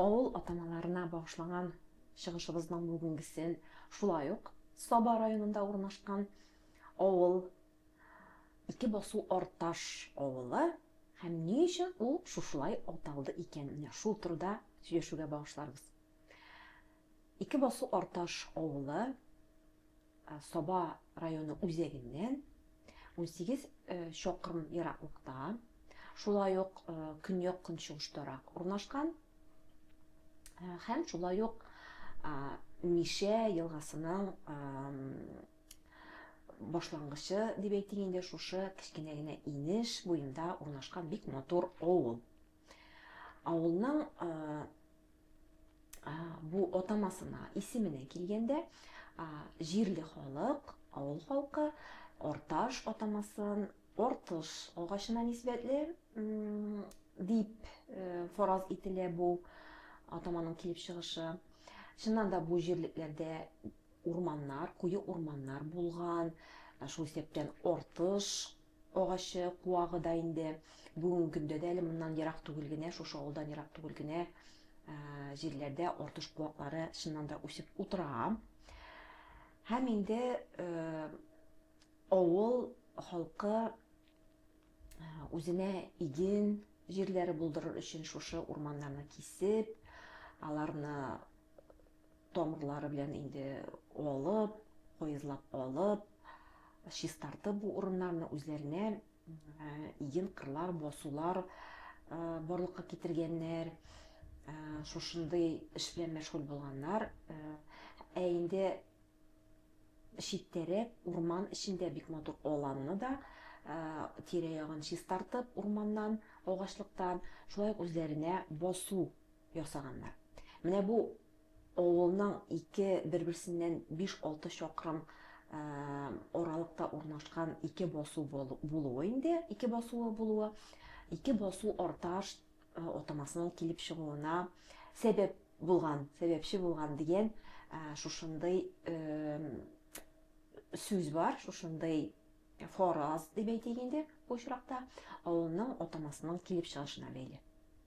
Авыл атамаларына багышланган чыгышыбызның бүгенгесен шулай ук Саба районында урнашкан авыл, Ике басу Арташ авылы һәм ни өчен ул шушылай аталды икән, менә шул турыда сөйләшүгә багышларбыз. Ике басу Арташ авылы, Саба районы үзәгеннән унсигез чакрым ераклыкта, шулай ук көньяк-көнчыгыштарак урнашкан һәм шулай ук Мишә елгасының башлангычы дип әйтик инде, шушы кечкенә генә инеш буенда урнашкан бик матур авыл. Авылның бу атамасына, исеменә килгәндә, җирле халык, авыл халкы орташ атамасын ортыш агачына нисбәтле дип э, фараз ителә бу атаманың килеп чыгышы. Чыннан да бу җирлекләрдә урманнар, куе урманнар булган, шул исәптән ортыш агачы, куагы да инде бүгенге көндә дә әле моннан ерак түгел генә, шушы авылдан ерак түгел генә җирләрдә артыш куаклары чыннан да үсеп утыра. Һәм инде авыл халкы үзенә иген җирләре булдырыр өчен шушы урманнарны кисеп, аларны тамырлары белән инде алып, куезлап алып, чистартып бу урыннарны үзләренә иген кырлар, басулар барлыкка китергәннәр, шушындый эш белән мәшгуль булганнар. Ә инде читтәрәк урман эчендә бик матур аланны да тирә-ягын чистартып урманнан, агачлыктан, шулай ук үзләренә басу ясаганнар. Менә бу авылның ике бер-берсеннән биш-алты чакрым аралыкта урнашкан ике басу булуы инде, ике басуы булуы, ике басу арташ атамасының килеп чыгуына сәбәп булган, сәбәпче булган дигән шушындый сүз бар, шушындый фараз дип әйтик инде бу очракта, авылның атамасының килеп чыгышына бәйле.